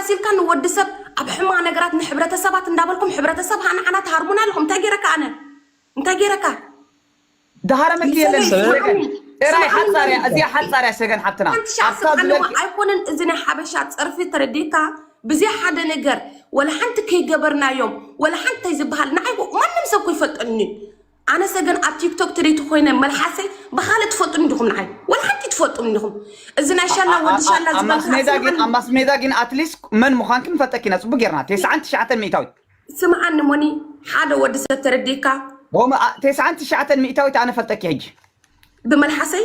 መሲልካ ንወዲ ሰብ ኣብ ሕማቅ ነገራት ንሕብረተሰባት እንዳበልኩም ሕብረተሰብ ሃ ንዓና ትሃርሙና ኣለኹም እንታይ ጌረካ ኣነ እንታይ ጌረካ ድሃረመኪ የለን ንሰለይ ሰገን ስምዓኒ ጥራይ ስምዓኒ ሓጻር እያ እዚኣ መንእሰይ ሓጻር እያ ሰገን ሓብትና ሓንቲ ሻዕ ኣብታ ስምዓኒ እሞ ዝበልኪ ኣይኮነን እዚ ናይ ሓበሻ ጸርፊ ተረዲእካ ብዘይ ሓደ ነገር ወላ ሓንቲ ከይገበርናዮም ወላ ሓንቲ እንታይ ዝበሃል ንዓይ ማንም ሰብ እኮ ይፈልጠኒ እዩ ኣነሰ ግን ኣብ ቲክቶክ ትሪቲ ኮይነ መልሓሰይ ብካልእ ትፈልጡኒ ዲኩም ንዓይ ወላ ሓንቲ ትፈልጡኒ ዲኩም እዚ ናይ ሻላ ወዲ ሻላ ኣብ ማስ ሜዳ ግን ኣብ ዝበልካ ማስ ሜዳ ግን ኣትሊስት መን ምዃንኪ ንፈልጠኪ ኢና ጽቡቅ ጌርና ቴስዓን ትሽዓተን ሚእታዊት ስምዓኒ ሞኒ ሓደ ወዲ ሰብ ተረዲእካ ኦም ቴስዓን ትሽዓተን ሚእታዊት ኣነ ፈልጠኪ ሕጂ ብመልሓሰይ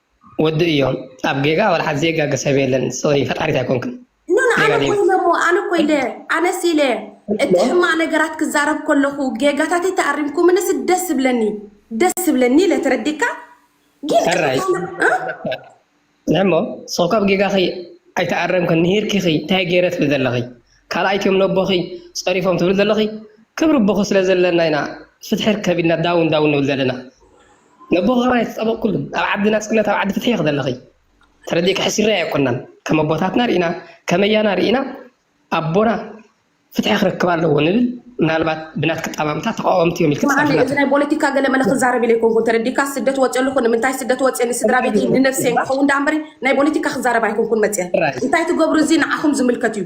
ወዲ እዮ ኣብ ጌጋ ወላ ሓድ ዘይጋገ ሰብ የለን ሶሪ ፈጣሪት ኣይኮንክን ኖኖ ኣነ ኮ ኢለ እሞ ኣነ ኮ ኢለ ኣነስ ኢለ እቲ ሕማቅ ነገራት ክዛረብ ከለኹ ጌጋታተይ ተኣሪምኩምንስ ደስ ዝብለኒ ደስ ዝብለኒ ኢለ ተረዲካ ግን ሕራይ ንሕሞ ስኹ ካብ ጌጋኺ ኣይተኣረምክን ንሂርኪኺ እንታይ ገይረ ትብል ዘለኺ ካልኣይቲ እዮም ነቦኺ ፀሪፎም ትብል ዘለኺ ክብሪ ቦኺ ስለ ዘለና ኢና ፍትሒ ርከብ ኢልና ዳውን ዳውን ንብል ዘለና ነቦ ከማይ ተጸበቅኩሉ ኣብ ዓዲ ናጽነት ኣብ ዓዲ ፍትሒ ኢኪ ዘለኪ ተረዲእኪ ሕስሪ ኣየኮናን ከም ኣቦታትና ሪኢና ከም ኣያና ሪኢና ኣቦና ፍትሒ ክረክብ ኣለዎ ንብል ምናልባት ብናትኪ ኣጠማምታ ተቃወምቲ እዮም ኢልኪ ስምዓኒ ትጸርፊና እዚ ትህቢ ናይ ፖለቲካ ገለ መለ ክዛረብ ኢለ ኣይኮንኩን ተረዲእካ ስደት ወፂኦ ኣለኹ ንምንታይ ስደት ወፂኦ ንስድራ ቤተይ ንነፍሰይን ክኸውን ደኣ እምበሪ ናይ ፖለቲካ ክዛረብ ኣይኮንኩን መፂኣ ጥራይ እንታይ ትገብሩ እዚ ንዓኹም ዝምልከት እዩ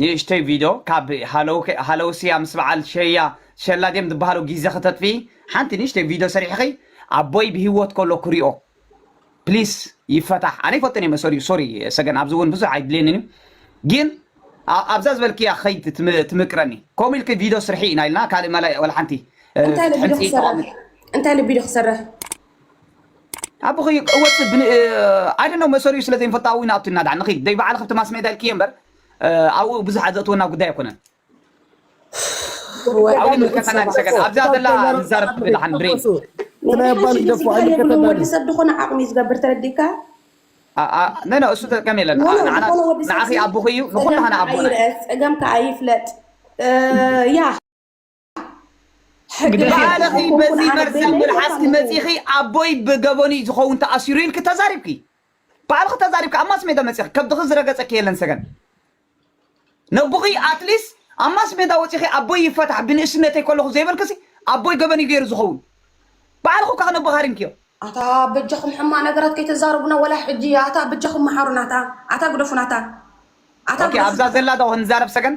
ንእሽቶይ ቪዶ ካብ ሃለው ሃለውስያ ምስ በዓል ሸያ ሸላ ድዮም ዝብሃሉ ጊዘ ከተጥፍኢ ሓንቲ ንእሽቶይ ቪዶ ሰሪሕኺ ኣቦይ ብሂወት ከሎ ክሪኦ ፕሊስ ይፈታሕ ኣነ ይፈቶ ኔመ ሰሪኡ ሶሪ ሰገን ኣብዚ እውን ብዙሕ ኣይድልየንን እዩ ግን ኣብዛ ዝበልክያ ከይት ትምቅረኒ ከምኡ ኢልኪ ቪዶ ስርሒ ኢና ኢልና ካልእ መላ ወላ ሓንቲ እንታይ ኢለ ቪዶ ክሰርሕ እንታይ ኢለ ቪዶ ክሰርሕ ኣቦኺ እወጽእ ኣይ ዶንት ኖ መሰሪኡ ስለ ዘይንፈልጣ ኣብኡ ኢና ኣቱና ድኣ ንኺድ ደይ በዓል ክብቲ ማስሜዳ ኢልክየ እምበር ኣብኡ ብዙሓት ዘእትወና ጉዳይ ኣይኮነን ኣብኡ ይምልከተና ንሰገን ኣብዛ ዘላ ንዛረብ ብላሓን ብሬ ወዲ ሰብ ዝኾነ ዓቕሚ እዩ ዝገብር ተረዲእካ ነነ እሱ ተጠቀም የለን ንዓኺ ኣቦኺ እዩ ንኹሉ ሃነ ኣቦና ፀገምካ ኣይፍለጥ ያ ሕጊ ባዕልኺ በዚ መርዛም መልሓስኪ መፂኺ ኣቦይ ብገበኑ እዩ ዝኸውን ተኣሲሩ ኢልኪ ተዛሪብኪ ባዕልኺ ተዛሪብኪ ኣብ ማስ ሜዳ መፂኺ ከብድኺ ዝረገፀኪ የለን ሰገን ነቡኺ ኣትሊስ ኣብ ማስ ሜዳ ወፂኺ ኣቦይ ይፈታሕ ብንእስነተይ ከለኹ ዘይበልክሲ ኣቦይ ገበን እዩ ገይሩ ዝኸውን ባዕልኹ ካብ ነቦኻ ሪምክዮ ኣታ በጃኹም ሕማ ነገራት ከይተዛረቡና ወላ ሕጂ ኣታ በጃኹም መሓሩና ኣታ ኣታ ግደፉና ኣታ ኣታ ኦኬ ኣብዛ ዘላ ዶ ክንዛረብ ሰገን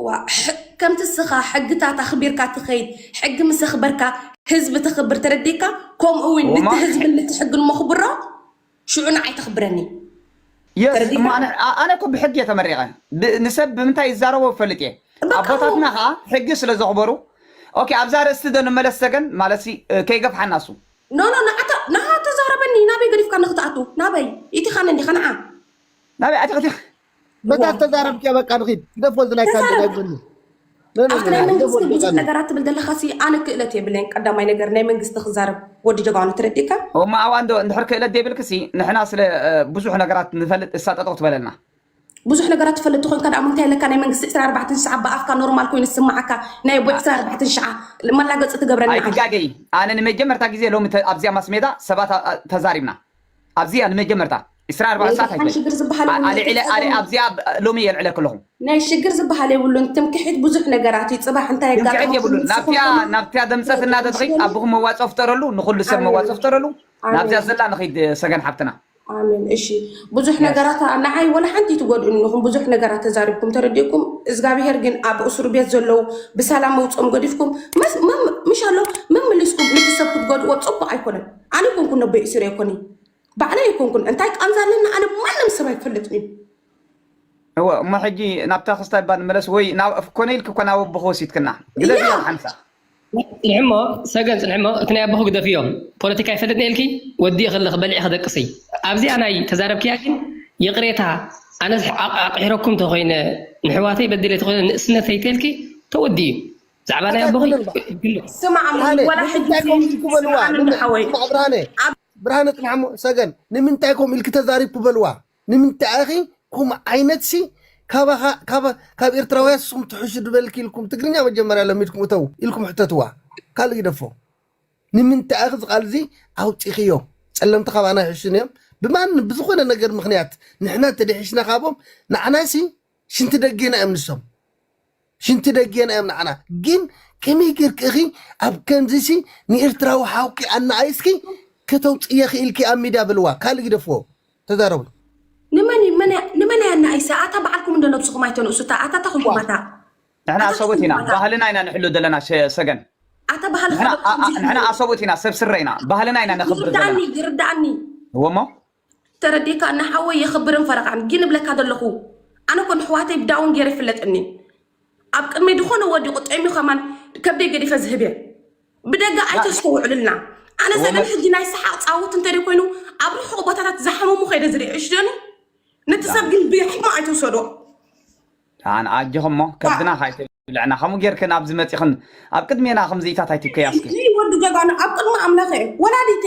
እዋእ ከምቲ እስኻ ሕግታት ኣኽቢርካ ትኸይድ ሕጊ ምስ ኣኽበርካ ህዝቢ ተኽብር ተረዲካ ከምኡ እውን ንቲ ወማ ህዝብን ንቲ ሕግን መኽብሮ ሽዑ ንዓይ ተኽብረኒ የስ እሞ ተረዲካ ኣነ ኣ- ኣነ እኮ ብሕጊ እየ ተመሪቐ ብ- ንሰብ ብምንታይ ይዛረቦ እፈልጥ እየ በቃ ኣቦታትና እሞ ከዓ ሕጊ ስለ ዘኽበሩ ኦኬ ኣብዛ ርእስቲ ዶ ንመለስ ሰገን ማለት ሲ እ፣ ከይገፍሓና እሱ ኖ ኖ ንዓታ ንዓ ተዛረበኒ ናበይ ገዲፍካ ንክትኣቱ ናበይ ኢቲኻኒ እንዲኻ ንዓ ናበይ ኣቲኽቲ መታት ተዛረብ ኪያ በቃ ንኺድ ግደፎ እዚ ናይ ካንዲ ናይ ጎኒ ኣቲ ናይ መንግስቲ ግን ብዙሕ ነገራት ትብል ዘለካ ሲ ኣነ ክእለት የብለይን ቀዳማይ ነገር ናይ መንግስቲ ክዛረብ ወዲ ጀጋኑ ትረዲካ እሞ ኣዋንዶ እንድሕር ክእለት ዘይብልክ ሲ ንሕና ስለ ብዙሕ ነገራት ንፈልጥ እሳ ጠጠቕ ትበለልና ብዙሕ ነገራት ትፈልጥ ኮይንካ ደኣ ምንታይ ኣለካ ናይ መንግስቲ 24 ሽዓ ብኣፍካ ኖርማል ኮይኑ ዝስማዓካ ናይ ኣቦ 24 ሽዓ መላገፂ ትገብረና ኣይትጋገይ ኣነ ንመጀመርታ ግዜ ሎሚ ኣብዚኣ ማስሜዳ ሰባት ተዛሪብና ኣብዚኣ ንመጀመርታ ዕስራ ኣርባዕተ ሰዓት ናይ ኣይኮነን ሽግር ዝበሃል ኣ- የብሉን ኣልዒለ ኣረ ትሕዝኦም ኣብዚኣ ብ- ሎሚ የልዕለኪ ኣለኹ ናይ ሽግር ዝበሃል የብሉን ትምክሒት ብዙሕ ነገራት እዩ ፅባሕ እንታይ ትምክሕቲ የጋጥመኩም የብሉን ንስኹም ናብቲኣ ከማን ናብቲኣ ደምፀት እና ትፈልጡ ተትኺድ ስለኒ ኣቦኹም መዋፅኦ ፍጠረሉ ንኹሉ ሰብ መዋፅኦ ኣሜን ፍጠረሉ ናብዚኣ ኣሜን ዘላ ንኺድ ሰገን ሓፍትና ኣሜን እሺ ብዙሕ የስ ነገራት ኣ- ንዓይ ወላ ሓንቲ ኣይትጎድኡኒ ኢኹም ብዙሕ ነገራት ተዛሪብኩም ተረዲእኩም እዝጋብሄር ግን ኣብ እሱር ቤት ዘለዉ ብሰላም መውፅኦም ገዲፍኩም መስ- መም- ምሻሎ መመሊስኩም ነቲ ሰብ ክትጎድእዎ ፅቡቕ ኣይኮነን ኣነ ኣይኮንኩን ነቦይ እሱር ኣይኮኒ ባዕለይ ኣይኮንኩን እንታይ ቃንዛ ኣለኒ ኣነ ማንም ሰብ ኣይፈልጥን እዩ እወ እሞ ሕጂ ናብታ ክስታይ እባ ንመለስ ወይ ኮነ ኢልኪ እኮ ናብ ኣቦኺ ወሲድክና ግደፍዮ ያ ሓንሳ ጽንሕሞ ሰገን ጽንሕሞ እቲ ናይ ኣቦኹ ግደፍዮ ፖለቲካ ኣይፈልጥን ኢልኪ ወዲእኺ ኣለኺ በሊዕኺ ደቅሲ ኣብዚኣ ናይ ተዛረብክያ ግን ይቕሬታ ኣነስ ኣቕ- ኣቕሒረኩም ተኾይነ ንሕዋተይ በዲለ ተኾይነ ንእስነተይ ተልኪ ተወዲኡ እዩ ብዛዕባ ናይ ኣቦኺ ኣይኮነን በቃ ግልፅ ስማዕ እሞ ብርሃነ ወላ ሕጂ ንምንታይ ከምኡ ኢልኪ በልዋ ስምዓኒ እንዶ ንምን ሓወይ ስማዕ ብርሃነ ኣብ ብርሃነ ጽናሕ እሞ ሰገን ንምንታይ ከምኡ ኢልኪ ተዛሪብኩ በልዋ ንምንታይ ኢኺ ከምኡ ዓይነት ሲ ካባኻ ካብ ካብ ኤርትራውያን ንስኹም ትሕሹ ድበልኪ ኢልኩም ትግርኛ መጀመርያ ለሚድኩም እተው ኢልኩም ሕተትዋ ካልእ ይደፎ ንምንታይ ኢኺ እዚ ቃል እዚ ኣውጺኽዮ ጸለምቲ ካባና ይሕሹን እዮም ብማን ብዝኾነ ነገር ምኽንያት ንሕና እንተደሒሽና ካቦም ንዓናሲ ሽንቲ ደጌና እዮም ንሶም ሽንቲ ደጌና እዮም ንዓና ግን ከመይ ጌርክ እኺ ኣብ ከምዚሲ ንኤርትራዊ ሓውኪ ኣናኣይስኪ ከተውፅየ ክኢልኪ ኣብ ሚድያ ብልዋ ካልእ ግደፍዎ ተዛረቡ ንመን እዩ- መን እያ- ንመን እያ እናኢሳ ኣታ በዓልኩም እንዶ ነብስኹም ኣይተንእሱታ ኣታ ኣታ ኩጉማታ ንሕና ኣታ ኣሰቦት ኢና ኩጉማታ ባህልና ኢና ንሕሉ ዘለና ሸ- ሰገን ኣታ ባህልካ ንሕና ዶ ኣ- ኣ- ከምዚ ንሕና እዩ ኣሰቦት ኢና ሰብ ስረ ኢና ባህልና ኢና ነኽብር ዘለና ይርዳእኒ ይርዳእኒ እወሞ ተረዲእካኒ ሓወይ የኽብርን ፈረቓን ግን እብለካ ዘለኹ ኣነ እኮ ንኣሕዋተይ ዳውን ገይረ ይፍለጥኒ ኣብ ቅድመይ ዝኾነ ወዲቑ ጠምዩ ከማን ከብደይ ገዲፈ ዝህብ እየ ብደጋ ኣይተስተውዕሉልና ኣነ ዘበን ሕጂ ናይ ሰሓቕ ፃውት እንተ ኮይኑ ኣብ ርሑቕ ቦታታት ዝሓመሙ ከይደ ዝርኢ እሽደኒ ነቲ ሰብ ግን ብሕሞ ኣይትውሰዶ ኣን ኣጆኹም እሞ ከብድና ካይተብልዕና ከምኡ ጌርክን ኣብዚ መፂኽን ኣብ ቅድሜና ከምዚኢታት ኣይትከያስኪ ወዲ ጀጋኑ ኣብ ቅድሚ ኣምላኸ ወላዲተ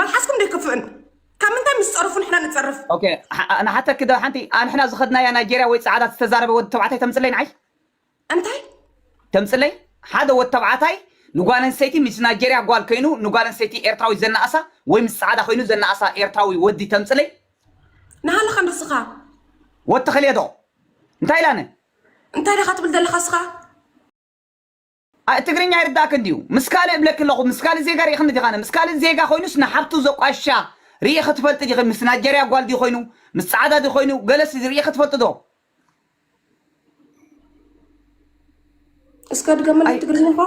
መልሓስኩም ዶ ይክፍእን ካብ ምንታይ ምስ ፀርፉ ንሕና ንፀርፍ ኦኬ ኣ- ኣነ ሓተኪ ዶ ሓንቲ ኣንሕና ዝኸድናያ ናይጀርያ ወይ ጻዕዳ ዝተዛረበ ወዲ ተባዕታይ ተምጽለይ ንዓይ እንታይ ተምጽለይ ሓደ ወዲ ተባዕታይ ንጓል ኣንስተይቲ ምስ ናይጀርያ ጓል ኮይኑ ንጓል ኣንስተይቲ ኤርትራዊ ዘናኣሳ ወይ ምስ ጻዕዳ ኮይኑ ዘናኣሳ ኤርትራዊ ወዲ ተምጽለይ ንሃለኻ ንስኻ ወዲ ተኸልየ ዶ እንታይ ኢላነ እንታይ ዲኻ ትብል ዘለኻ እስኻ ኣእ ትግርኛ ይርዳእኪ እንድዩ ምስ ካልእ እብለኪ ኣለኹ ምስ ካልእ ዜጋ ሪኢክኒ ዲኻነ ምስ ካልእ ዜጋ ኮይኑስ ንሓብቱ ዘቋሽሻ ሪኢኺ ትፈልጢ ዲኺ ምስ ናጀርያ ጓል ድዩ ኮይኑ ምስ ጻዕዳ ድዩ ኮይኑ ገለስ ሪኢኺ ትፈልጢ ዶ እስከ ድገመለይ ትግርኛኻ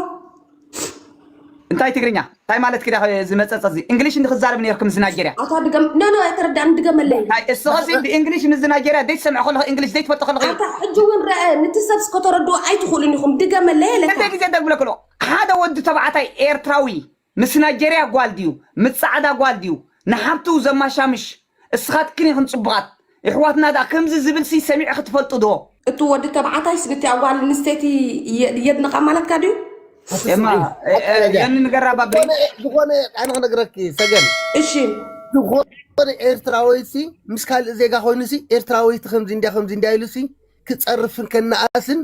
እንታይ ትግርኛ ታይ ማለትኪ ዳኺ እዚ መጸጸ እዚ እንግሊሽ እንዲ ክዛረብ ኔርኪ ምስ ናይጀርያ። ኣታ ድገም ኖኖ ኣይተረዳኣኒ ድገመለይ እንካ። ናይ እስኸሲ ብእንግሊሽ ምስ ናይጀርያ ደይ ትሰምዒ ከለኺ እንግሊሽ ደይ ትፈልጢ ከለኺ። ኣታ ሕጂ ውን ረኣ ንቲ ሰብስ ከተረድኡ ኣይትኽእሉን ኢኹም ድገመለይ ለካ። ክንደይ ግዜ ደግምለኪ ኣለኹ ሓደ ወዲ ተባዕታይ ኤርትራዊ ምስ ናይጀርያ ጓል ድዩ ምስ ጻዕዳ ጓል ድዩ ንሓብቱ ዘማሻምሽ። እስኻትክን ኢኽን ጽቡቓት የሕዋትና ድኣ ከምዚ ዝብልሲ ሰሚዕኺ ትፈልጢ ዶ? እቱ ወዲ ተባዓታይስ ብቲኣ ጓል ኣንስተይቲ የድንቓ ማለትካ ድዩ? እማ ዮኒ ንገራ ባቢ። ዝኾነ ኣነ ክነግረኪ ሰገን እሺ። ዝኾነ ኤርትራዊሲ ምስ ካልእ ዜጋ ኮይኑሲ ኤርትራዊቲ ከምዚ እንድያ ከምዚ እንድያ ኢሉሲ ክጸርፍን ከነኣእስን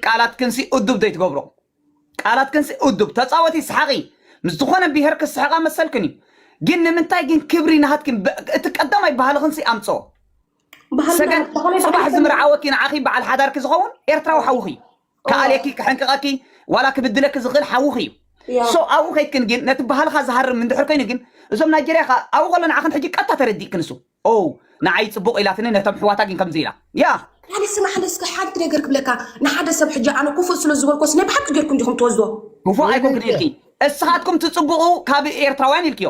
ቃላትክን እዱብ ዘይትገብሮ ቃላትክን እዱብ ተፃወቲ ሰሓቂ ምስ ዝኾነ ብሄር ክስሕቃ መሰልክን እዩ ግን ንምንታይ ግን ክብሪ ናሃትክን እቲ ቀዳማይ ባህልኽን ኣምፅኦ ሰገን ፅባሕ ዝምርዓወኪ ንዓኺ በዓል ሓዳርኪ ዝኸውን ኤርትራዊ ሓውኺ እዩ እወ ክኣልየኪ ክሕንቅቐኪ ዋላ ክብድለኪ ዝኽእል ሓውኺ እዩ እያ ሶ ኣብኡ ከይድክን ግን ነቲ ባህልኻ ዝሃርም እንድሕር ኮይኑ ግን እዞም ናይጀርያ ከ ኣብኡ ከሎ ንዓኽን ሕጂ ቀጥታ ተረዲእክን እሱ ኦው ንዓይ ጽቡቕ ኢላትኒ ነቶም ኣሕዋታ ግን ከምዚ ኢላ ያ ዳኒ ስማዕኒ እስከ ሓንቲ ነገር ክብለካ ንሓደ ሰብ ሕጂ ኣነ ኩፉእ ስለ ዝበልኮስ ናይ ብሓቂ ጌርኩም ዲኹም ትወስዶ ክፉእ ኣይኮንክን ወይለከ ኢልኪ እስኻትኩም ትጽቡቑ ካብ ኤርትራውያን ኢልክዮ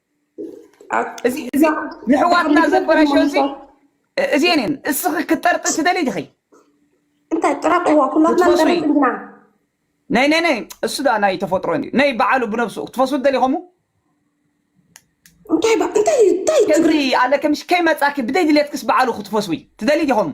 ንሕዋትና ዘበላሸ እዚ እዚኤን እየን እስኺ ክትጠርጢ ትደሊ ዲኺ እንታይ ጥራጥዋ ኩላትና ንጠርጥ እንዲና ናይ ናይ ናይ እሱ ዳ ናይ ተፈጥሮ እዩ ናይ በዓሉ ብነብሱ ክትፈስቡ ትደሊ ከምኡ እንታይ ባ- እንታይ እዩ እንታይ እዩ ትግሪ ከምዚ ኣለከ ምሽ ከይመፃኪ ብደይ ድሌትክስ በዓሉ ክትፈስዊ ትደሊ ዲኸምኡ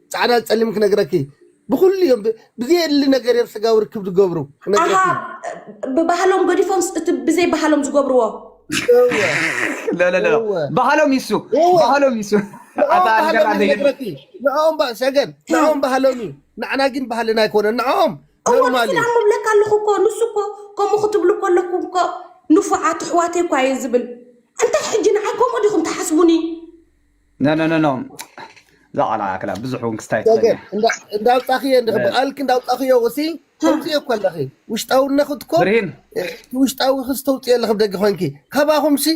ጻዕዳን ጸሊምን ክነግረኪ ብኩሉ እዮም ብ- ብዘየድሊ ነገር እዮም ስጋዊ ርክብ ዝገብሩ ኣሃ ክነግረኪ ብባህሎም ገዲፎምስ እቲ ብዘይ ባህሎም ዝገብርዎ እወ ለለለ እወ ባህሎም ይሱ እወ ባህሎም ይሱ ንኦም ኣታ ባህሎም ንገራ እዩ ዘይገድ ዝነግረኪ ንኦም ባ- ሰገን ንኦም ባህሎም እዩ ንዓና ግን ባህልና ኣይኮነን ንኦም እዎ ኖርማል ንሕና እዩ እሞ እብለካ ኣለኹ እኮ ንሱ እኮ ከምኡ ክትብሉ ከለኩም እኮ ንፉዓት ኣሕዋተይ እኳ እየ ዝብል እንታይ ሕጂ ንዓይ ከምኡ ዲኹም ትሓስቡኒ ነነነኖ ዛዕላ ክላ ብዙሕ እውን ክስታይ ትኽእል እያ እንዳውፃኽዮ እንዲ ብቓልኪ እንዳውፃኽዮ ወሲ ተውፅዮ እኮ ኣለኺ ውሽጣውነኽት እኮ ብርሂን ውሽጣዊ ክስ ተውፅዮ ኣለኺ ብደገ ኮንኪ ካባኹም ሲ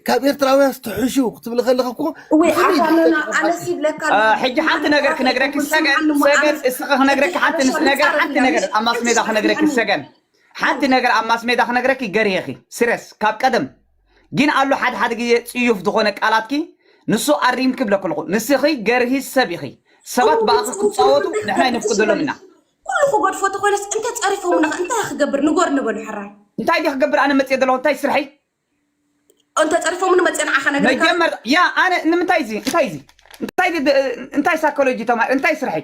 ካብ ኤርትራውያን ስትሕሹ ክትብሊ ከለኺ እኮ ወይ ኣታለና ኣነሲ ብለካ ሕጂ ሓንቲ ነገር ክነግረኪ ሰገን ሰገን እስኺ ክነግረኪ ሓንቲ ምስ ነገር ሓንቲ ነገር ኣብ ማስሜዳ ክነግረኪ ሰገን ሓንቲ ነገር ኣብ ማስሜዳ ክነግረኪ ገርየኺ ስረስ ካብ ቀደም ጊን ኣሎ ሓደ ሓደ ግዜ ጽዩፍ ዝኾነ ቃላትኪ ንሱ ኣሪምኪ ብለኪ ኣለኹ ንስኺ ገርሂ ሰብ ኢኺ ሰባት ኩሉ ብኣኺ ብጽፉፍ ክጻወቱ ተረኽቡ እንታይ ንሕና ክገብር ትሽ ኣይነፍቅደሎምን በለኪ ኢና ኩሉ ክገድፎ ተኾይነስ እንተ ጸሪፎሙና ከ እንታይ ክገብር ንጎር ንበሉ ሕራይ እንታይ ድየ ክገብር ኣነ መጽየ ዘለኹ እንታይ ስርሐይ እንተ ጸሪፎሙኒ መጽየ ንዓኻ ነግረካ መጀመር ያ ኣነ ንምንታይ እዚ እንታይ እዚ እንታይ እዚ ድ- እንታይ ሳይኮሎጂ ተማሂር እንታይ ስርሐይ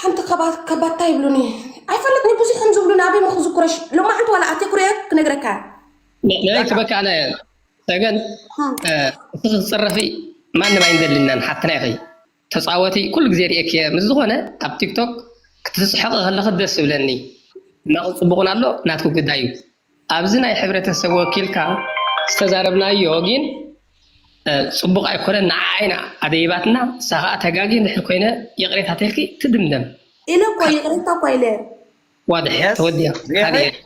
ሓንቲ ከባታ ይብሉኒ ኣይፈልጥኒ ብዙሕ ከም ዝብሉኒ ኣበይ ምክዝኩረሽ ሎማዓንቲ ዋላ ኣቴ ኩረየ ክነግረካ ናይ ትበካ ኣነ ሰገን እቲ ክትፅረፊ ማንም ኣይንደልናን ሓፍትና ኢኺ ተፃወቲ ኩሉ ግዜ ሪኤኪ እየ ምስ ዝኾነ ኣብ ቲክቶክ ክትስሕቂ ከለኺ ደስ ዝብለኒ ሕማቕን ፅቡቕን ኣሎ ናትኪ ጉዳይ እዩ ኣብዚ ናይ ሕብረተሰብ ወኪልካ ዝተዛረብናዮ ጊን ጽቡቅ ኣይኮነን ንዓኣ ኢና ኣደይባትና ንሳ ከኣ ተጋጊ እንድሕር ኮይነ ይቅሬታ ተልኪ ትድምደም። ኢለ እኮ ይቅሬታ እኳ ኢለ። ዋድሕ ተወዲኣ ሪኢኺ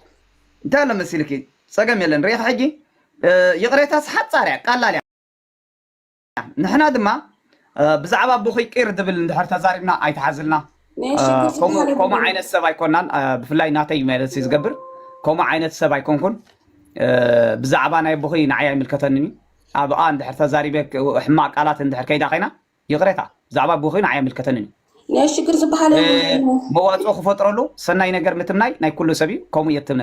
እንታይ ኣሎ መሲልኪ ጸገም የለን ሪኢኺ ሕጂ ይቅሬታስ ሓጻር እያ ቀላል እያ። ንሕና ድማ ብዛዕባ ብኹይ ቂር ዝብል እንድሕር ተዛሪብና ኣይትሓዝልና ከምኡ ዓይነት ሰብ ኣይኮናን ብፍላይ ናተይ ማለት እዩ ዝገብር ከምኡ ዓይነት ሰብ ኣይኮንኩን ብዛዕባ ናይ ኣቦኹይ ንዓይ ኣይምልከተንን እዩ ኣብኣ እንድሕር ተዛሪበ ሕማቅ ቃላት እንድሕር ከይዳ ኮይና ይቕሬታ ብዛዕባ ኣቦኹይ ንዓይ ኣይምልከተንን እዩ ናይ ሽግር ዝበሃል መዋፅኦ ክፈጥረሉ ሰናይ ነገር ምትምናይ ናይ ኩሉ ሰብ እዩ ከምኡ እየ ትምነ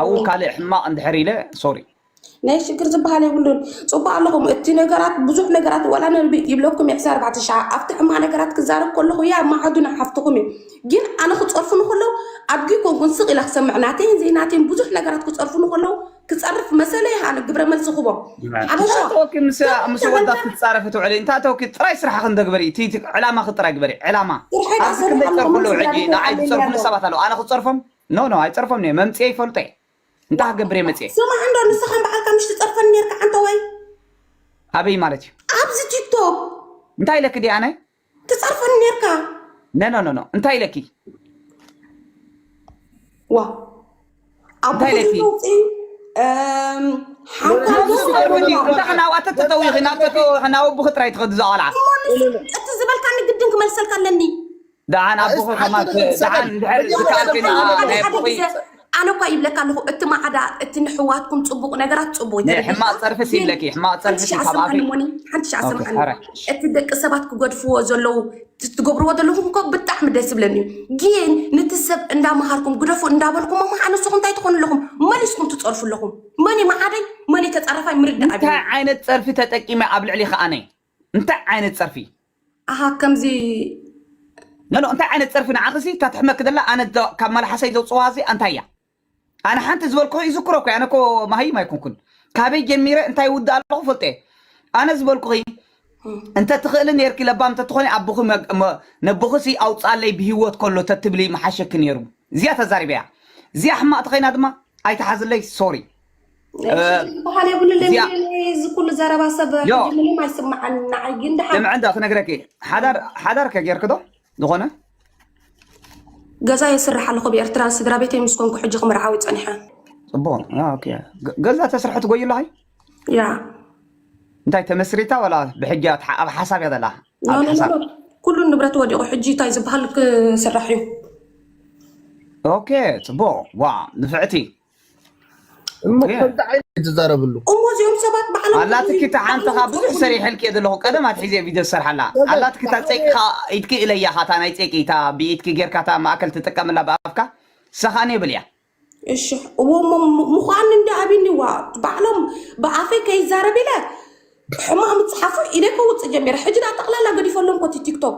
ኣብኡ ካልእ ሕማቅ እንድሕር ኢለ ሶሪ ናይ ሽግር ዝበሃል የብሉን ፅቡቅ ኣለኹም እቲ ነገራት ብዙሕ ነገራት ዋላ ነቢ ይብለኩም ዕስራ ኣርባዕተ ሸዓ ኣብቲ ሕማቅ ነገራት ክዛረብ ከለኹ እያ ማዕዱና ሓፍትኹም እዩ ግን ኣነ ክፀርፉኒ ከለው ኣድጊ ኮንኩን ስቅ ኢለ ክሰምዕ ናተይን ዘይናተይን ብዙሕ ነገራት ክፀርፉኒ ከለው ክፀርፍ መሰለ እየ ኣነ ግብረ መልሲ ክቦ ሓበሻ እንታይ ተወኪ ምስ ምስ ወዳት ክትፃረፊ ትውዕሊ እንታይ ተወኪ ጥራይ ስራሕኺ እንደግበሪ እቲ እቲ ዕላማኺ ጥራይ ግበሪ ዕላማ ስርሐይ ኣብዚ ክንደይ ዝሰርሕ ፀርፉ ኣለኹ ኣለዉ ሕጂ መሰለኒ ንዓይ ኣለኒ ዝፀርፉኒ ኣለዉ ሰባት ኣለዉ ኣነ ክፀርፎም ኖ ኖ ኣይፀርፎምን እየ መምፅኤ ይፈልጦ እየ እንታይ ክገብር እየ መፅየ ስማዕ እንዶ ንስኻ ንባዕልካ ምሽ ትፀርፈኒ ነርካ ዓንተዋይ ኣበይ ማለት እዩ ኣብዚ ቲክቶክ እንታይ ኢለኪ ድየ ኣነ ትፀርፈኒ ነርካ ነኖኖኖ እንታይ ኢለኪ ዋ ኣብ እንታይ ኢለኪ? ብዙ ወፂ ሓንኳ ናብዚ ትቐርቢ ድዩ እንታይ ክናዋተ ተተዊኺ ናብ ተተወኺ ናብ ኣቦኺ ጥራይ ትኸዲ እዛ ቆልዓ እቲ ዝበልካኒ ግድን ክመልሰልካ ኣለኒ ደሓን ኣቦኺ ከማን ደሓን እንድሕር ዝከኣል ኮይነ ናይ ኣቦኺ ኣነ እኳ ይብለካ ኣለኹ እቲ ማዕዳ እቲ ንሕዋትኩም ፅቡቅ ነገራት ፅቡቅ ሕማቅ ፀርፍት ይብለኪ ሕማቅ ፀርፍት ካብ ኣኺ ሓንቲ ሻዕ ሰምዓኒ እቲ ደቂ ሰባት ክገድፍዎ ዘለዉ ትገብርዎ ዘለኹም እኮ ብጣዕሚ ደስ ይብለኒ ግን ንቲ ሰብ እንዳመሃርኩም ግደፉ እንዳበልኩም እሞ ኣነስኹም እንታይ ትኾኑ ኣለኹም መን ስኹም ትፀርፉ ኣለኹም መን ማዓደይ መን ተፃረፋይ ምርዳእ እንታይ ዓይነት ፀርፊ ተጠቂመ ኣብ ልዕሊ ከኣነይ እንታይ ዓይነት ጸርፊ ኣሃ ከምዚ ኖኖ እንታይ ዓይነት ጸርፊ ንዓኺሲ እታ ትሕመኪ ዘላ ኣነ እዛ ካብ መልሓሰይ ዘውጽዋ እዚኣ እንታይ እያ ኣነ ሓንቲ ዝበልኩኺ ይዝክሮ እኮ ኣነ እኮ መሃይም ኣይኮንኩን ካበይ ጀሚረ እንታይ ውድእ ኣለኹ ፈልጦ እየ ኣነ ዝበልኩኺ እንተ ትኽእሊ ነርኪ ለባም እንተ ትኾኒ ኣቦኺ መግ- መ- ነቦኺሲ ኣውጻለይ ብሂወት ከሎ ተትብሊ ምሓሸኪ ነይሩ እዚኣ ተዛሪበያ እዚኣ ሕማቕ ተኸይና ድማ ኣይትሓዝለይ ሶሪ በሃል የብሉን እዚ ኩሉ ዘረባ ሰብ ምንም ኣይስማዓን ንዓይ ግን ድሓን ልምዐ እንዳ ክነግረኪ ሓዳር ሓዳር ከጌርክዶ ዝኾነ ገዛ የስርሕ ኣለኹ ብኤርትራ ስድራ ቤተይ ምስ ኮንኩ ሕጂ ክምርዓዊ ፀኒሐ ፅቡቅ ገዛ ተስርሐ ትጎዩ ኣለኸይ ያ እንታይ ተመስሪታ ወላ ብሕጂ ኣብ ሓሳብ እያ ዘላ ኩሉ ንብረት ወዲቑ ሕጂ እንታይ ዝበሃል ክስራሕ እዩ ኦኬ ፅቡቅ ዋ ንፍዕቲ እሞ ከምዚ ዓይነት እዩ ትዛረብሉ እሞ እዚኦም ሰባት ባዕሎም ኣላትኪ እታ ሓንቲ ካብ ብዙሕ ሰሪሐልኪ እየ ዘለኹ ቀደም ኣትሒዘ ቪድዮ ዝሰርሓላ ኣላትኪ እታ ፀይቅኻ ኢድኪ እለያ ኻ እታ ናይ ፀይቂ እታ ብኢድኪ ጌርካ እታ ማእከል ትጥቀመላ ብኣፍካ እሳ ኸዓ ኔብል እያ እሺ እሞ ምዃን እንዲ ኣቢኒ ዋ ባዕሎም ብኣፈይ ከይዛረብ ኢለ ሕማቅ ምፅሓፉ ኢደ ከውፅእ ጀሚረ ሕጂ ዳ ጠቅላላ ገዲፈሎም ኮቲ ቲክቶክ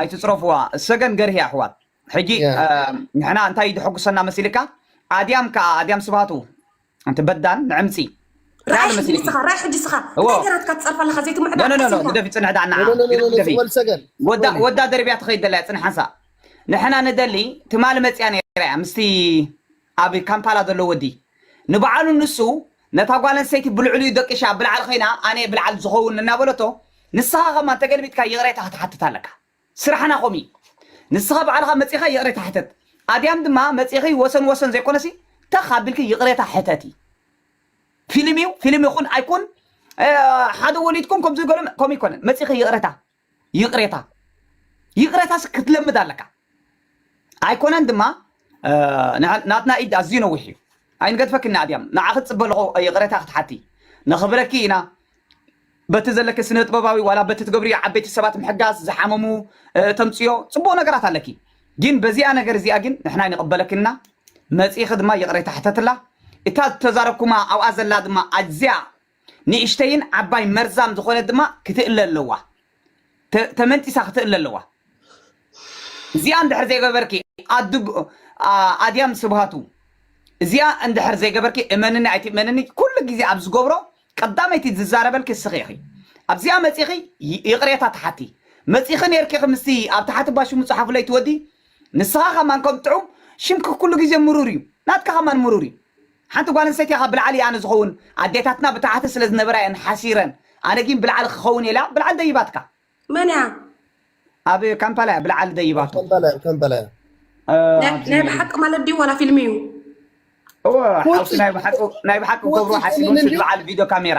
ኣይትጽረፍዋ እሰገን ገርሂ ኣሕዋት ሕጂ ያ ንሕና እንታይ ድሐጉሰና መሲልካ ኣድያም ከኣ ኣድያም ስብሃቱ እቲ በዳን ንዕምጺ እንታይ ኣሎ ራይሕ ሕጂ መሲልኪ ንስኻ ራይሕ ሕጂ ንስኻ እዎ እንታይ ገራትካ ትጸርፍ ኣለኻ ዘይትምዕዳ ኖ ኖ ኖ ዓስብካ ግደፊ ጽንሕ ደኣ ንዓ ግደፊ ኖኖኖኖ ግደፊ ጽወል ሰገን ወዳ ጽወሊ ወዳ ደርብያ ትኸይድ ደላ እያ ጽንሕ ሓንሳእ ንሕና ንደሊ ትማሊ መጽያ ነይራ እያ ምስቲ ኣብ ካምፓላ ዘሎ ወዲ ንባዕሉ ንሱ ነታ ጓል ኣንስተይቲ ብልዕሊኡ ደቂሻ ኣብ ብልዓል ኮይና ኣነየ ብልዓል ዝከውን እናበለቶ ንስካ ከማ እንተገልቢጥካ ይቅሬታ ክትሓትት ኣለካ ስራሕና ከምኡ እዩ ንስካ ባዕልካ መጺካ ይቅሬታ ሕተት ኣድያም ድማ መጺኪ ወሰን ወሰን ዘይኮነሲ ተክ ኣቢልኪ ይቅሬታ ሕተቲ ፊልም እዩ ፊልም ይኩን ኣይኩን ሓደ ወሊድኩም ከምዚ ገለ ከምኡ ኣይኮነን መጺኪ ይቅሬታ ይቅሬታ ይቅሬታስ ክትለምድ ኣለካ ኣይኮነን ድማ ናትና ኢድ ኣዝዩ ነዊሕ እዩ ኣይንገድፈክን ንኣድያም ንዓኺ ትፅበ ኣለኹ ይቅሬታ ክትሓቲ ነኽብረኪ ኢና በቲ ዘለኪ ስነ ጥበባዊ ዋላ በቲ ትገብርዮ ዓበይቲ ሰባት ምሕጋዝ ዝሓመሙ ተምፅዮ ፅቡቅ ነገራት ኣለኪ ግን በዚኣ ነገር እዚኣ ግን ንሕና ይንቕበለክን ኢና መፂኺ ድማ ይቕሬታ ሕተትላ እታ ዝተዛረብኩማ ኣብኣ ዘላ ድማ ኣዝያ ንእሽተይን ዓባይ መርዛም ዝኾነት ድማ ክትእለ ኣለዋ። ተ- ተመንጢሳ ክትእለ ኣለዋ። እዚኣ እንድሕር ዘይገበርኪ ኣዱ ኣ- ኣድያም ስብሃቱ እዚኣ እንድሕር ዘይገበርኪ እመንኒ ኣይትእመንኒ ኩሉ ግዜ ኣብ ዝገብሮ ቀዳመይቲ ዝዛረበልኪ እስኺ ኢኺ ኣብዚኣ መፂኺ ይ- ይቕሬታ ትሓቲ መፂኺ ነይርኪ ኢኺ ምስቲ ኣብ ታሕቲ ባሽሙ ፀሓፉለይ ትወዲ ንስኻ ከማን ከም ጥዑም ሽምኪ ኩሉ ግዜ ምሩር እዩ ናትካ ከማን ምሩር እዩ ሓንቲ ጓል ኣንስተይቲ ካብ ብልዓል እያ ኣነ ዝኸውን ኣዴታትና ብታሕቲ ስለ ዝነበራ እየን ሓሲረን ኣነ ጊን ብልዓል ክኸውን እየ ኢላ ብልዓል ደይባትካ። መን እያ? ኣብ ካምፓላ እያ ብልዓል ደይባቶ። ከምበላያ ከምበላያ ናይ ኣብዚ ናይ ብሓቂ ማለት ድዩ ዋላ ፊልሚ እዩ? እወ ሓውሲ ናይ ብሓቂ ናይ ብሓቂ ክገብርዎ ሓሲቦም ስዲ በዓል ቪድዮ ካሜራ።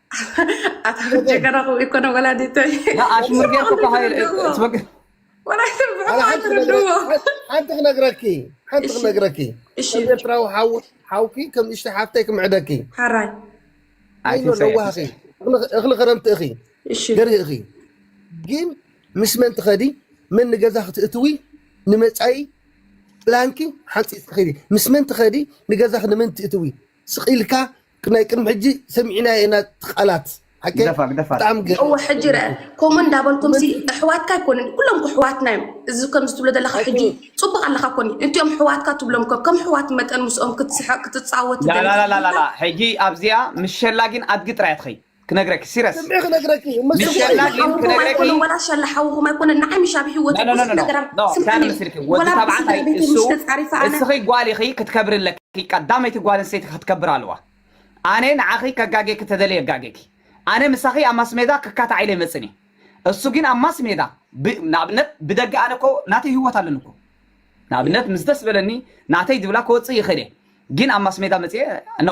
ኣታ ጀገና ክብኡ ይኮነ ወላዲተይ ኣሽሙር ጌርኩ ሓንቲ ክነግረኪ ሓንቲ ክነግረኪ ከም ኤርትራዊ ሓውኪ ከም ንእሽተ ሓፍተይ ክምዕደኪ ሓራይ ኣይኖ ለዋህኺ እኽሊ ክረምቲ እኺ ገርሂ እኺ ግን ምስ መን ትኸዲ መን ንገዛ ክትእትዊ ንመፃኢ ፕላንኪ ሓንፂፅ ትኸዲ ምስ መን ትኸዲ ንገዛኺ ንመን ትእትዊ ስቅ ኢልካ ናይ ቅድሚ ሕጂ ሰሚዕናዮ ኢና እቲ ቃላት ሓቂ ግደፋ ግደፋ ብጣዕሚ ገ እወ ሕጂ ረአ ከምኡ እንዳበልኩምሲ ኣሕዋትካ ኣይኮኑን ኩሎም እኮ ኣሕዋትና እዮም እዚ ከምዚ ትብሎ ዘለካ ሕጂ ኣይኮኑ ፅቡቅ ኣለካ ኮኒ እንቲኦም ኣሕዋትካ ትብሎም ከ ከም ኣሕዋት መጠን ምስኦም ክትስሕቅ ክትፃወት ትደሊ ላላላላላ ሕጂ ኣብዚኣ ምስ ሸላጊን ኣድጊ ጥራይ እያ ትኸይድ ክነግረኪ ሲረስ ስምዒ ክነግረኪ ምስ ምስ ሸላ ሸላ ግን ሓውኹም ክነግረኪ ኣይኮነን ዋላ ሸላ ሓውኹም ኣይኮነን ንዓይ ምሽ ኣብ ሂወተይ ኖ ኖ ብዙሕ ኖ ኖ ነገራት ኖ ስምዕኒ ሳነ ምስልኪ ወዲ ዋላ ተባዕታይ ብስድራ ቤተይ እሱ ምሽ ተጻሪፈ ኣነ እስኺ ጓል ኢኺ ክትከብሪ ኣለኪ ቀዳመይቲ ጓል ኣንስተይቲ ክትከብር ኣለዋ ኣነ ንዓኺ ከጋጌኪ ተደልየ የጋጌኪ ኣነ ምሳኺ ኣብ ማስሜዳ ክካታዕ ኢለ ይመጽን እየ እሱ ግን ኣብ ማስሜዳ ብ- ንኣብነት ብደገ ኣነ እኮ ናተይ ህይወት ኣለኒ እኮ ንኣብነት ምስ ደስ በለኒ ናተይ ድብላ ክወጽእ ይኽእል እየ ግን ኣብ ማስሜዳ መጽየ ኖ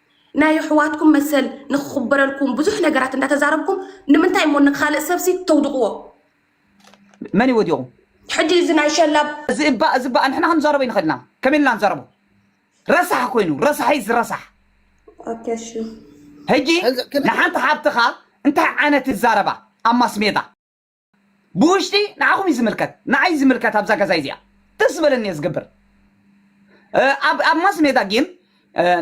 ናይ ኣሕዋትኩም መሰል ንክኽበረልኩም ብዙሕ ነገራት እንዳተዛረብኩም ንምንታይ እሞ ንካልእ ሰብሲ ተውድቕዎ? መን እዩ ወዲቑ? ሕጂ እዚ ናይ ሸላብ እዚ እባ እዚ እባ ንሕና ክንዛረቦ ይንኽእል ኢና ከመይ ኢልና ንዛረቦ ረሳሕ ኮይኑ ረሳሕ ኢዝ ረሳሕ ኦኬ እሺ ህጂ ንሓንቲ ሓብትኻ እንታይ ዓይነት ትዛረባ ኣብ ማስሜዳ ብውሽጢ ንዓኹም እዩ ዝምልከት ንዓይ ዝምልከት ኣብዛ ገዛይ እዚኣ ደስ ዝበለኒ እየ ዝገብር ኣብ ኣብ ማስ ሜዳ ግን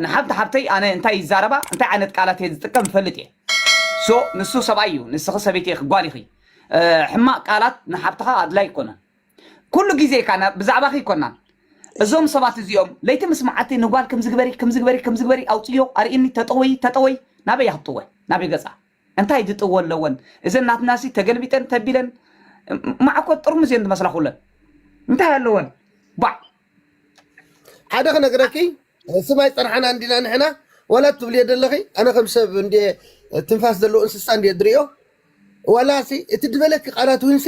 ንሓንቲ ሓብተይ ኣነ እንታይ ይዛረባ እንታይ ዓይነት ቃላት እየ ዝጥቀም ይፈልጥ እየ ሶ ንሱ ሰብኣይ እዩ ንስኺ ሰበይቲ ኢኺ ጓል ኢኺ ሕማቅ ቃላት ንሓብትኻ ኣድላይ ኣይኮነን ኩሉ ግዜ ካና ብዛዕባኺ ይኮናን እዞም ሰባት እዚኦም ለይቲ ምስ መዓልቲ ንጓል ከምዝግበሪ ከምዝግበሪ ከምዝግበሪ ኣውፅዮ ኣርእኒ ተጠወይ ተጠወይ ናበይ ኣኽጥወ ናበይ ገፃ እንታይ ድጥዎ ኣለወን እዘን ናትናሲ ተገልቢጠን ተቢለን ማዕኮት ጥርሙዝ እየን ዝመስላ ኩለን እንታይ ኣለወን ባዕ ሓደ ክነግረኪ ስም ኣይፀናሕና እንዲና ንሕና ዋላ ትብልዮ ዘለኺ ኣነ ከም ሰብ እንደ ትንፋስ ዘለዎ እንስሳ እንደ ድሪኦ ዋላሲ እቲ ድበለኪ ቃላት ውንሲ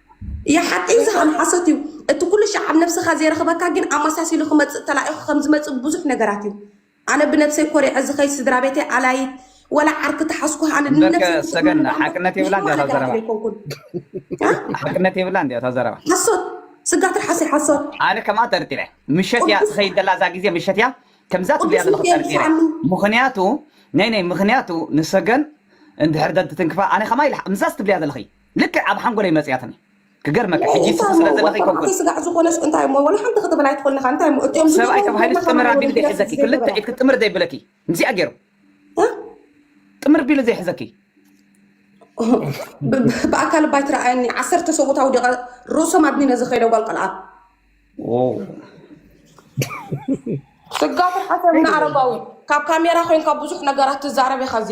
ሓቂ ዝኸነ ሓሶት እዩ እቲ ኩሉ ሻዕ ኣብ ነብስኻ ዘይረኽበካ ግን ኣመሳሲሉ ክመፅእ ተላኢኹ ከምዝመፅእ ብዙሕ ነገራት እዩ ኣነ ብነብሰይ ኮሪዐ ዝኸይድ ስድራቤተይ ኣላይት ወላ ዓርኪ ተሓዝኩ ኣነ እምበርከ ንነብሰይ ክፅእ ሰገን ምብል ኣምበር ሓቅነት የብላ ንሕማቕ እንዲያ እታ ነገራት ዘረባ ዘይኮንኩን ሓቅነት የብላ እንዲያ እታ ዘረባ ሓሶት ስጋ ትርሓሰይ ሓሶት ኣነ ከምኣ ጠርጢረ ምሸት እያ ቅዱስ ትኸይድ ዘላ እዛ ግዜ ምሸት እያ ከምዛ ትብልያ ቅዱስ ዘለኹ ሚካኤል ጠርጢረ ድፋኣሉ ምኽንያቱ ናይ ናይ ምኽንያቱ ንሰገን እንድሕር ደትትንክፋ ኣነ ከማይ ልሓ- ምዛስ ትብልያ ዘለኺ ልክዕ ኣብ ሓንጎለይ መጽያትኒ ክገርመካ ሕጂ እንታይ ትስብ እሞ ስለ ዘለኺ ወልቀ ኮንኩን ማዕተይ ስጋዕ ዝኾነስ እንታይ እሞ ወላ ሓንቲ ክትብል ኣይትኽእልን ኢኻ እንታይ እሞ እትኦም ሰብኣይ ዝገበሩ ተባሂሉ ገርና ጥምር ኣቢሉ ከማና ወለዲ ዘይሕዘኪ ክልተ ዘይገበራ ኢድኪ ጥምር ዘይብለኪ ምስኣ ገይሩ እ? ጥምር ቢሉ ዘይሕዘኪ ብ- ብ- ብኣካል ባይ ትረኣየኒ ዓሰርተ ሰብኡት ኣውዲቐ ርእሶም ኣድኒነ ዝኸይደ ጓል ቆልዓ ዎው ስጋ ፍርሓት የብና ኣረጋዊ ካብ ካሜራ ኮይንካ ብዙሕ ነገራት ትዛረብ ኢኻ እዚ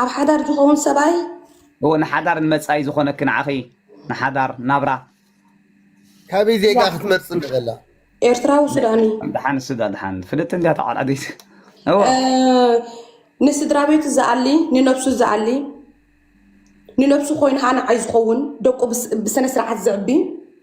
ኣብ ሓዳር ዝኸውን ሰብኣይ እወ ንሓዳር ንመጻኢ ዝኾነኪ ንዓኺ ንሓዳር ናብራ ካበይ ዜጋ ክትመርፅ ንበላ ኤርትራዊ ሱዳኒ ድሓን ስዳ ድሓን ፍልጥ እንዲያ ተዓላዲት እወ እ፣ ንስድራ ቤቱ ዝኣሊ ንነብሱ ዝኣሊ ንነብሱ ኮይኑ ሃናዓይ ዝኸውን ደቁ ብስ- ብስነ ስርዓት ዝዕቢ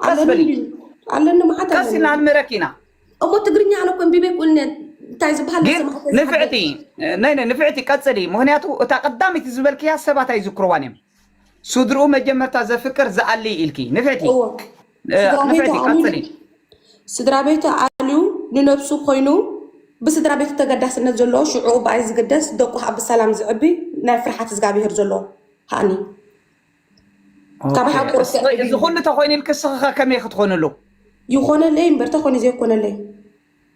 ቀስ ኣለኒ በሊ እንድዩ ኣለኒ መዓት ቀስ ኣለኒ ኢልና ንምህረኪ ኢና እሞ ትግርኛ ኣነ እኮ እንቢበ ይቁልነ እንታይ ዝበሃል ግን ናሰማዕተ ዝሓደር ንፍዕቲ ናይ ናይ ንፍዕቲ ቀፅሊ ምክንያቱ እታ ቀዳሚት ዝበልክያ ሰባት ኣይዝክርዋን እዮም ስድርኡ መጀመርታ ዘፍቅር ዝኣሊ ኢልኪ ንፍዕቲ እዎ እ፣ ስድራ ቤቱ ንፍዕቲ ኣልዩ ቀፅሊ ን- ስድራ ቤቱ ኣልዩ ንነብሱ ኮይኑ ብስድራ ቤቱ ተገዳስነት ዘለዎ ሽዑኡ ብኣይ ዝግደስ ደቁ ከዓ ብሰላም ዝዕቢ ናይ ፍርሓት እግዚኣብሄር ዘለዎ ሃኒ ካብ ሓቁ ርትዕ ወይ እዚ ሪቪው ኩሉ ተኮይኑ ኢልኪ እስኺ ከ ከመይ ክትኮንሉ ይኾነለይ እምበር ተኾይኑ ዘይኮነለይ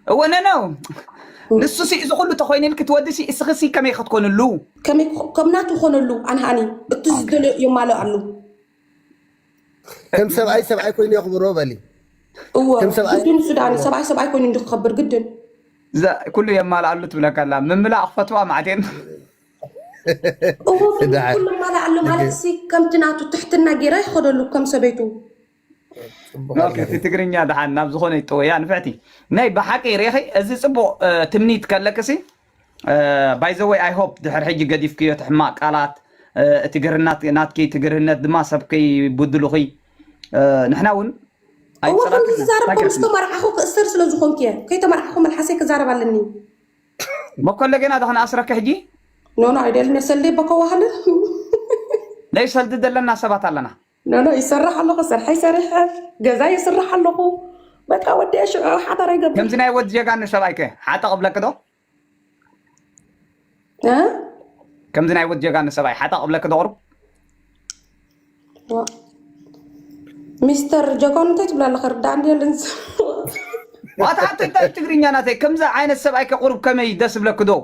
እወ ነነው ንሱ ሲ እዚ ኩሉ ተኮይኑ ኢልኪ ትወዲ ሲ እስኺ ሲ ከመይ ክትኮንሉ ከመይ ክኾ- ከም ናቱ ኮነሉ ኣንሃኒ እቲ ዝደልዮ የማልእ ኣሉ ከም ሰብኣይ ሰብኣይ ኮይኑ የኽብሮ በሊ እወ ከም ሰብኣይ ግድን እሱ ዳኒ ሰብኣይ ሰብኣይ ኮይኑ እንዲ ክኸብር ግድን እዛ ኩሉ የማልኣሉ ትብለካ ኣላ ምምላእ ክፈትዋ ማዕቴን እዎ ግን ደሓር ኩሉ ማላ ኣሎ ንገ ማለት ሲ ከምቲ ናቱ ትሕትና ጌራ ይኸደሉ ከም ሰበይቱ ጽቡቕ ኦኬ ኣላ እቲ ግን ትግርኛ ደሓን ናብ ዝኾነ ይጠወያ ንፍዕቲ ናይ ብሓቂ ርኢኺ እዚ ጽቡቕ እ፣ ትምኒት ከለክሲ ባይዘወይ ኣይ ሆፕ ድሕር ሕጂ ገዲፍክዮ እቲ ሕማቕ ቃላት እ፣ እቲ ግርናት ናትኪ እቲ ግርህነት ድማ ሰብ ከይቡድሉኺ እ፣ ንሕና እውን እዎ ከምዚ ኣይጸላእክናን ዝዛረብ እንታይ ኮምስ ገርክና ተመርዓኹ ክእሰር ስለ ዝኾንኩ እየ ከይተመርዓኹ መልሓሰይ ክዛረብ ኣለኒ በኮለ ገና እዛ ክንኣስረኪ ሕጂ ኖኖ ኣይደልን እየ ሰልደይ በኮ ዋህለ ናይ ሰልዲ ዘለና ሰባት ኣለና ኖኖ ይሰርሕ ኣለኹ ስርሐይ ሰሪሐ ገዛ ይስራሕ ኣለኹ በቃ ወዲ ሽዑ ሓዳር ኣይገብር ከምዚ ናይ ወድ ጀጋኑ ሰብኣይ ከ ሓጠ ቅብለኪ ዶ ከምዚ ናይ ወድ ጀጋኑ ሰብኣይ ሓጠ ቅብለኪ ዶ ቅሩብ ሚስተር ጀጎን እንታይ ትብላ ኣለኻ ርዳእ እንዲ የለን ዋት ሓቶ እንታይ ትግርኛ ናተይ ከምዚ ዓይነት ሰብኣይ ከቕርብ ከመይ ደስ ብለክ ዶ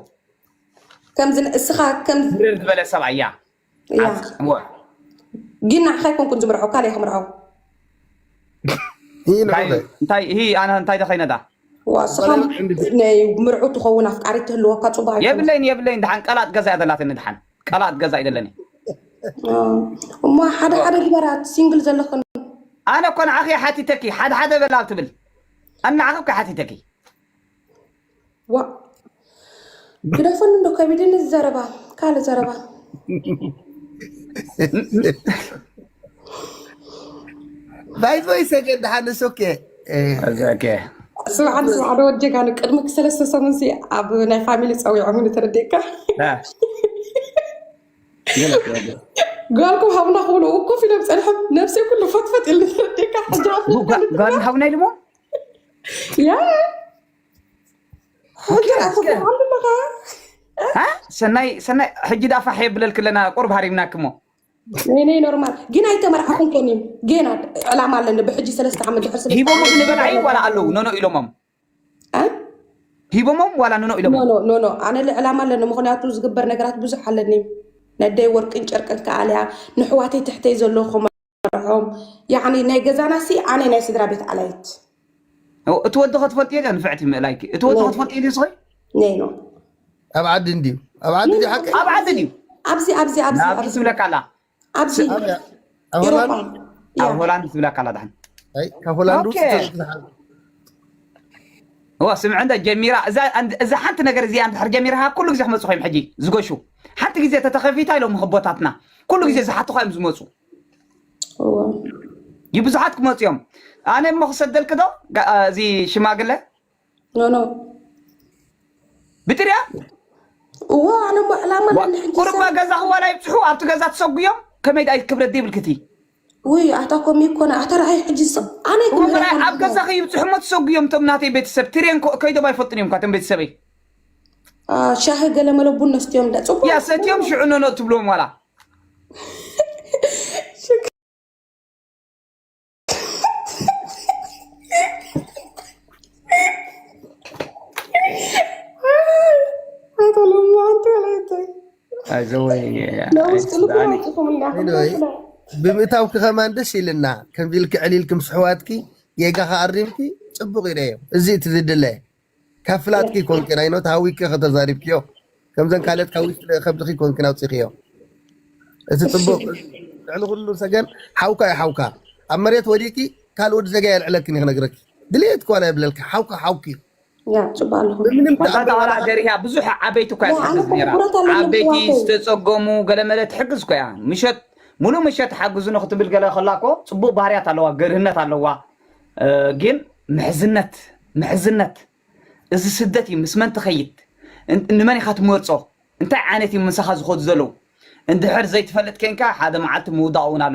ከምዚ እስኻ ከም ብርር ዝበለ ሰብኣይ እያ እያ ግን ንዓኻ ኣይኮንኩን ዝምርዖ ካልእ እየ ክምርዖ ይህ እንታይ ልዑለ እንታይ ይህ ኣነ እንታይ ደኸይነዳ ዋ እስኻ ናይ ምርዑ ትኸውን ኣፍቃሪ ትህልወካ ፅቡቅ ኣይኮነ የብለይን የብለይን ድሓን ቀላጥ ገዛ እያ ዘላትኒ ድሓን ቃላት ገዛ ኣይደለን እየ እሞ ሓደ ሓደ ግበራት ሲንግል ዘለኽን ኣነ እኮ ንዓኺ ሓቲተኪ ሓደ ሓደ በላ ትብል ኣነ ንዓኺ እኮ ሓቲተኪ ዋ ግደፈኒ እንዶ ከቢድኒ ዘረባ ካልእ ዘረባ ባይዞይ ሰገድ ደሓን እሱ ኬ እዛከ ስማዕ ሓደ ስማዕ ሓደ ወድ ጀጋኑ ቅድሚ ሰለስተ ሰሙን ሲ ኣብ ናይ ፋሚሊ ፀዊዖም ኢሉ ተረዲእካ ጓልኩም ሃቡና ክብሉ ውኮፍ ኢሎም ፀንሖም ነብሲ ኩሉ ፈትፈት ኢሉ ተረዲእካ ሕጂ ጓል ሃቡና ኢሉሞ ያ ሕጂ ሰናይ ሰናይ ሕጂ ዳፋሕ የብለልክ ኣለና ቁርብ ሃሪምናክሞ ነይነይ ኖርማል ግን ኣይተመርዓኹን ኮን እዩ ገና ዕላማ ኣለኒ ብሕጂ ሰለስተ ዓመት ድሕር ስለ ሂቦሞ ክንበልዓዩ ዋላ ኣለዉ ኖኖ ኢሎሞም ሂቦሞም ዋላ ኖኖ ኢሎሞ ኖኖ ኣነ ዕላማ ኣለኒ ምክንያቱ ዝግበር ነገራት ብዙሕ ኣለኒ ነደይ ወርቅን ጨርቅን ከኣልያ ንሕዋተይ ትሕተይ ዘለኹም ርሖም ናይ ገዛና ሲ ኣነ ናይ ስድራ ቤት ኣላይት እቲ ወዲ ከ ትፈልጥዮ ድያ ንፍዕቲ ምእላይኪ እቲ ወዲ ከ ትፈልጥዮ ድዩ ስኺ ኔኖ ኣብ ዓዲ እንድዩ ኣብ ዓዲ ድዩ ሓቂ ኣብ ዓዲ ድዩ ኣብዚ ኣብዚ ኣብዚ ኣብዚ ትብለካ ኣላ ኣብዚ ኣብ ሆላንድ ትብለካ ኣላ ድሓን ካብ ሆላንድ ውስጥ እዋ ስምዕ እንደ ጀሚራ እዛ ሓንቲ ነገር እዚኣ እንድሕር ጀሚርካ ኩሉ ግዜ ክመፁ ኮይም ሕጂ ዝገሹ ሓንቲ ግዜ ተተኸፊታ ኢሎም ህቦታትና ኩሉ ግዜ ዝሓትኻ እዮም ዝመፁ እዩ ብዙሓት ክመፁ እዮም ኣነ እሞ ክሰደልክ ዶ ጋ- አ፣ እዚ ሽማግለ ኖኖ ብጥርያ እዎ ኣነ እሞ ዕላማ ኣለኒ ሕጂ ቁርባ ሰብ ገዛ ክዋላ ይብፅሑ ኣብቲ ገዛ ትሰጉዮም ከመይ ዳይ ክብረት ዘይብልክቲ ውይ ኣታ ከምኡ ይኮነ ኣታ ርኣይ ሕጂ ሰብ ኣነ እሞ ክምለ መርኣይ ኣብ ገዛ ከይብፅሑ እሞ ትሰጉዮም እቶም ናተይ ቤተሰብ ትሬን ኮ- ከይዶም ኣይፈልጡን እዮም እኳ እቶም ቤተሰበይ አ፣ ሻሂ ገለመለ ቡን ነስትዮ እንዳ ፅቡቅ እያ ሰትዮም ሽዑ ኖኖ ትብሎም ዋላ ኣቶ ለሙ ኣንቲ ወላይታይ ኣይዘወይ ናብ ውሽጢ ልቢ ኣይስዳኒ ኣውፅኹም እንዳ Anyway, ክዳ ብምእታውኪ ከማን ደስ ኢልና ከምዚ ኢልኪ ዕሊልኪ ምስ ኣሕዋትኪ ጌጋኻ ኣሪምኪ ፅቡቅ እዩ ነዮ እዚ እቲ ዝድለ ካብ ፍላጥኪ ኮንኪ ናይ ኖት ሃዊኪ ከተዛሪብኪዮ ከምዘን ካልኦት ካብ ውሽጢ ከብድኺ ኮንኪን ኣውፂእኽዮ እቲ ፅቡቅ ልዕሊ ኩሉ ሰገን ሓውካ እዩ ሓውካ ኣብ መሬት ወዲቂ ካልእ ወዲ ዘጋ የልዕለክን ክነግረኪ ድሌት እኳ ናይ ብለልኪ ሓውካ ሓውኪ እዩ ተኣምር ገርያ ብዙሕ ዓበይቲ እኳ ትሕግዝ ነራ ዓበይቲ ዝተፀገሙ ገለመለ ትሕግዝ እኮ እያ ምሸት ሙሉእ ምሸት ሓግዙኒ ክትብል ገለ ከላ እኮ ፅቡቅ ባህርያት ኣለዋ ገርህነት ኣለዋ ግን ምሕዝነት ምሕዝነት እዚ ስደት እዩ ምስ መን ትኸይድ ንመን ኢኻ ትመርጾ እንታይ ዓይነት እዩ ምሳኻ ዝኸዱ ዘለዉ እንድሕር ዘይትፈልጥ ኴንካ ሓደ መዓልቲ ምውዳቕ እውን ኣሎ